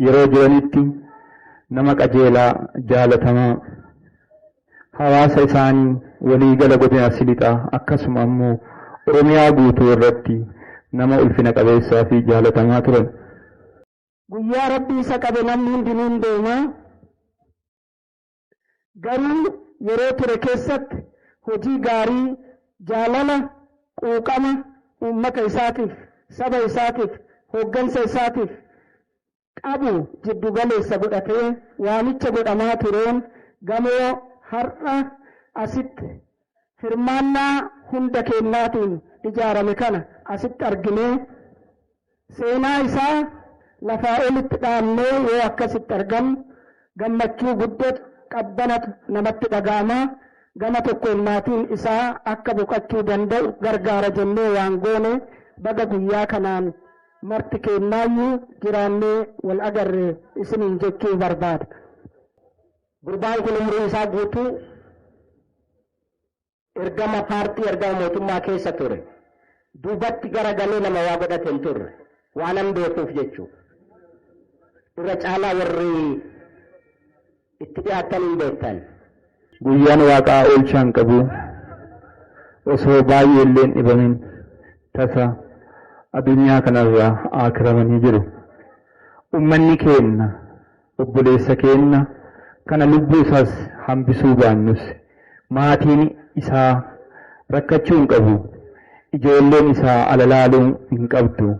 yeroo jiranitti nama qajeelaa, jaalatamaa, hawaasa isaanii walii gala godina Arsii Lixaa akkasuma ammoo Oromiyaa guutuu irratti nama ulfina qabeessaa fi jaalatamaa turan. Guyyaa Rabbi isa qabe namni hundinuu hin deema. Garuu yeroo ture keessatti hojii gaarii, jaalala, quuqama uummata isaatiif, saba isaatiif, hooggansa isaatiif qabu jiddu galeessa godhatee waamicha godhamaa tureen gamoo har'a asitti hirmaannaa hunda keennaatiin ijaarame kana asitti arginee seenaa isaa lafaa olitti dhaamnee yoo akkasitti argamu gammachuu guddatu qabbanatu namatti dhaga'ama gama tokkoon maatiin isaa akka boqachuu danda'u gargaara jennee waan goone baga guyyaa kanaan marti keennaayyuu jiraannee wal agarre isiniin jechuu barbaada. Gurbaan kun umrii isaa guutuu ergama paartii ergama mootummaa keessa ture. Duubatti gara galee nama waa godhate hin turre. Waanan beekuuf jechuudha. Irra caalaa warri itti dhiyaatan hin beektan. Guyyaan waaqaa oolchaan qabu osoo baay'ee illee hin dhibamin tasa addunyaa kanarraa aakiramanii jiru. Ummanni keenya Obboleessa keenna kana lubbuu isaas hambisuu baannus maatiin isaa rakkachuu hin qabu, ijoolleen isaa ala laaluu hin qabdu,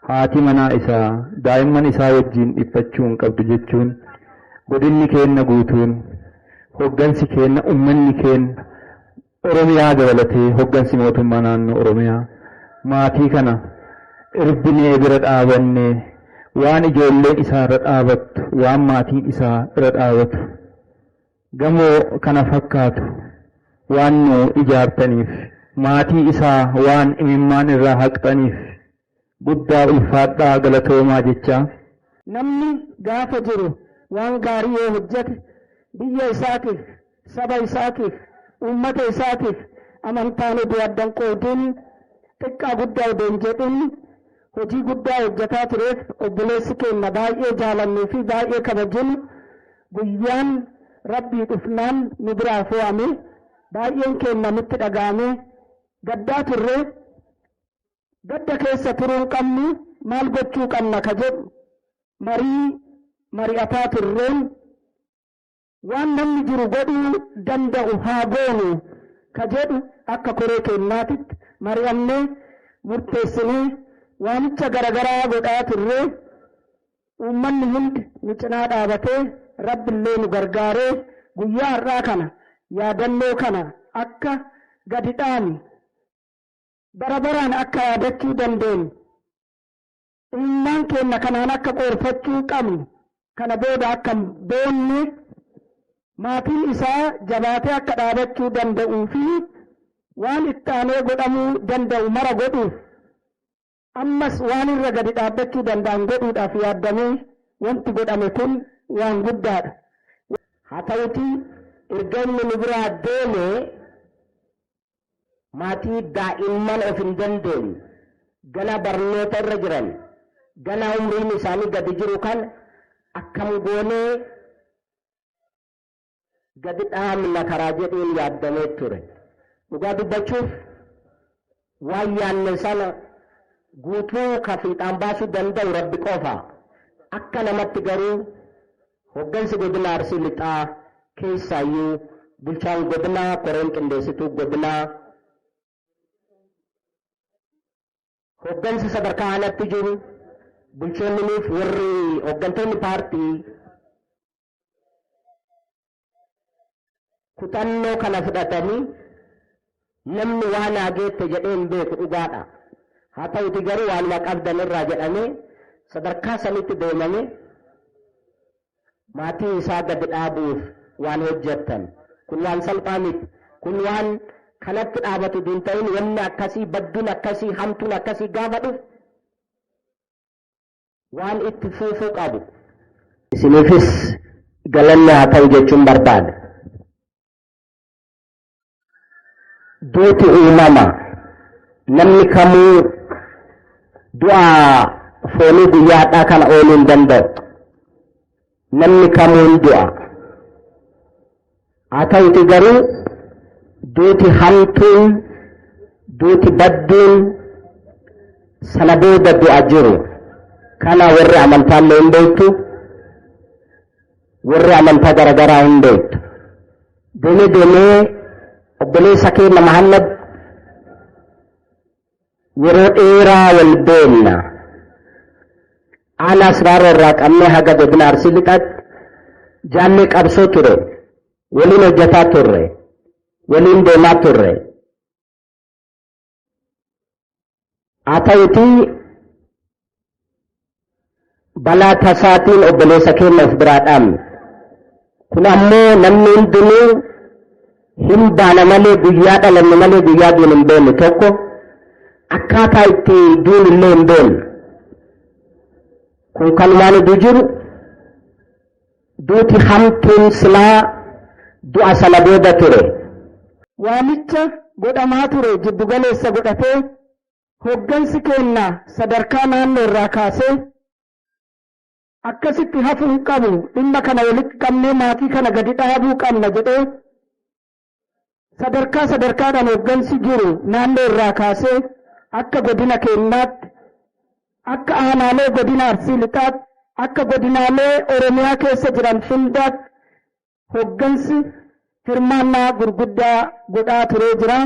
haati manaa isaa daa'imman isaa wajjiin dhiphachuu hin qabdu jechuun godinni keenna guutuun, hoggansi keenna, ummanni keenna, Oromiyaa dabalatee hoggansi mootummaa naannoo Oromiyaa maatii kana irbinee bira dhaabannee waan ijoolleen isaa irra dhaabattu, waan maatiin isaa irra dhaabatu, gamoo kana fakkaatu waan nuu ijaartaniif, maatii isaa waan imimmaan irraa haqxaniif, Guddaa ulfaadhaa galatoomaa jechaa. Namni gaafa jiru waan gaarii yoo hojjate biyya isaatiif, saba isaatiif, uummata isaatiif amantaan odoo adda hin qoodiin, xiqqaa guddaa odoo hin jedhin hojii guddaa hojjataa tureef obboleessi keenna baay'ee jaalannuu fi baay'ee kabajinu guyyaan Rabbii dhufnaan nu biraa foo'ame baay'een keenna nutti dhaga'amee gaddaa turre. Gadda keessa turuu hin qabnu, maal gochuu qabna ka jedhu marii mari'ataa turreen waan namni jiru godhuu danda'u haa goonu ka jedhu akka koree keennaatitti mari'annee murteessinee waamicha garagaraa godhaa turree uummanni hundi nu cinaa dhaabatee Rabbillee nu gargaaree guyyaa har'aa kana yaadannoo kana akka gadi dhaanu Bara baraan akka yaadachuu dandeennu, imimmaan keenna kanaan akka qoorfachuu qabnu, kana booda akka hin boonne, maatiin isaa jabaatee akka dhaabachuu danda'uu fi waan itti aanee godhamuu danda'u mara godhuuf, ammas waan irra gadi dhaabbachuu danda'an godhuudhaaf yaaddamee wanti godhame kun waan guddaa dha. Haa ta'utii erga inni nu biraa deemee Maatii daa'imman of hin dandeenye, ganaa barnoota irra jiran, ganaa umriin isaanii gadi jiru kana akkam goonee gadi dhaabna karaa jedhuun yaaddamee ture. Dhugaa dubbachuuf waan yaanne sana guutuu ka fiixaan baasuu danda'u Rabbi qofa. Akka namatti garuu Hoggansi Godina Arsii Lixaa keessaayyuu Bulchaan Godinaa, Koreen Qindeessituu Godinaa, Hoggansi sadarkaa Aanaatti jiru, Bulchoonniniif warri Hoggantoonni Paartii, kutannoo kana fudhatanii namni waa naa geette jedhee hin beeku dhugaadha. Haa ta'uti garuu waanuma qabdan irraa jedhamee sadarkaa sanitti deemame maatii isaa gadi dhaabuuf waan hojjettan. Kun waan salphaa miti. Kun waan kanatti dhaabatu hin ta'in wanni akkasii badduun akkasii hamtuun akkasii gaafa dhufu Waan itti fuufuu qabu isiniifis galanni haa ta'u jechuun barbaada. Duuti uumama namni kamuu du'a foonii guyyaa har'aa kana ooluu hin danda'u. Namni kamuu ni du'a. Haa ta'uti garuu duuti hamtuun duuti badduun sana booda du'a jiru. Kana warri amantaa illee hin beektu. Warri amantaa garaagaraa hin beektu. Deemee deemee obboleessa keenya Mahammad Yeroo dheeraa wal beenna. Aanaa Siraaroo irraa qabnee haga godina Arsii Lixaatti jaallee qabsoo ture. Waliin hojjetaa turre. Waliin deemaa turre. Haa ta'utii balaa tasaatiin obboleessa keenya of biraa dhaabne. Kun ammoo namni hundinuu hin baana malee guyyaa dhalanne malee guyyaa duun hin beekne tokko akkaataa itti duun illee hin beekne. Kun kan waan idu jiru duuti hamtuun silaa du'a sana booda ture. Waamicha godhamaa ture jiddugaleessa godhatee Hoggansi keenna sadarkaa naannoo irraa kaasee akkasitti hafu hin qabu dhimma kana walitti qabnee maatii kana gadi dhaabuu qabna jedhee sadarkaa sadarkaadhaan hoggansi jiru naannoo irraa kaasee akka godina keennaatti akka aanaalee godina arsii lixaatti akka godinaalee oromiyaa keessa jiran hundaatti hoggansi hirmaannaa gurguddaa godhaa turee jira.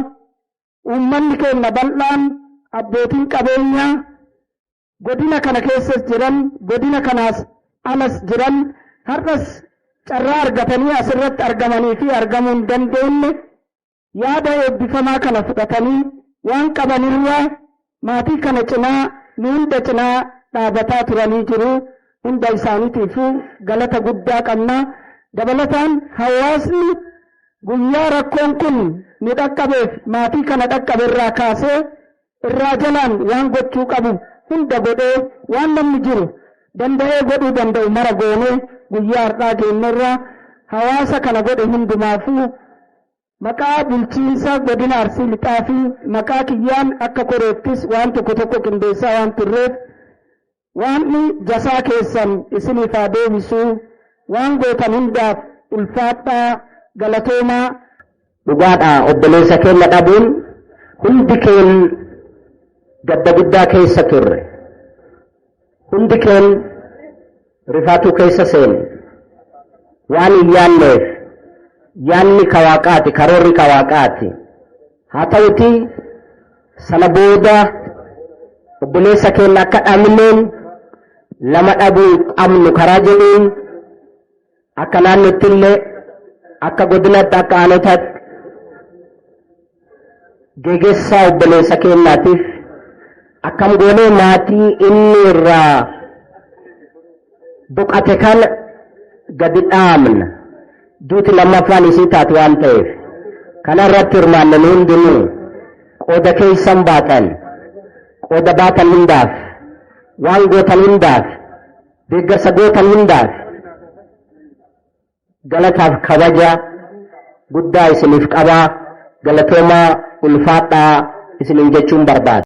Uummanni keenya bal'aan, abbootiin qabeenyaa godina kana keessas jiran, godina kanaas alas jiran har'as carraa argatanii asirratti argamanii fi argamuu hin dandeenne yaada eebbifamaa kana fudhatanii waan qabanirraa Maatii kana cinaa nu hunda cinaa dhaabataa turanii jiru hunda isaanitiifu galata guddaa qabna. Dabalataan hawaasni guyyaa rakkoon kun nu dhaqqabeef maatii kana dhaqqabe irraa kaasee irraa jalaan waan gochuu qabu hunda godhee waan namni jiru danda'ee godhuu danda'u mara goonee guyyaa har'aa geenyerra hawaasa kana godhe hundumaafuu Maqaa bulchiinsa godina Arsii Lixaa fi maqaa kiyyaan akka koreettis waan tokko tokko qindeessaa waan turreef Waaqni jasaa keessan isiniif haa deebisu, waan gootan hundaaf ulfaadhaa, galatoomaa. Dhugaadha obboleessa keenya dhabuun hundi keen gadda guddaa keessa turre. Hundi keen rifaatuu keessa seene. Waan hin yaanneef yaanni ka waaqaati, karoorri ka waaqaati. Haa ta'uti sana booda obboleessa keenya akka dhabneen lama dhabuu hin qabnu karaa jedhuun Akka naannotti illee akka godinatti akka aanotaatti geggeessaa obboleessa keenyaatiif akkam goonee maatii inni irraa boqate kana gadi dhaamna duuti lammaffaan isii taate waan ta'eef kana irratti hirmaanne nu hundinuu qooda keessan baatan qooda baatan hundaaf waan gootan hundaaf Deeggarsa gootan hundaaf galataaf kabaja guddaa isiniif qabaa galatoomaa ulfaadhaa isiniin jechuun barbaada.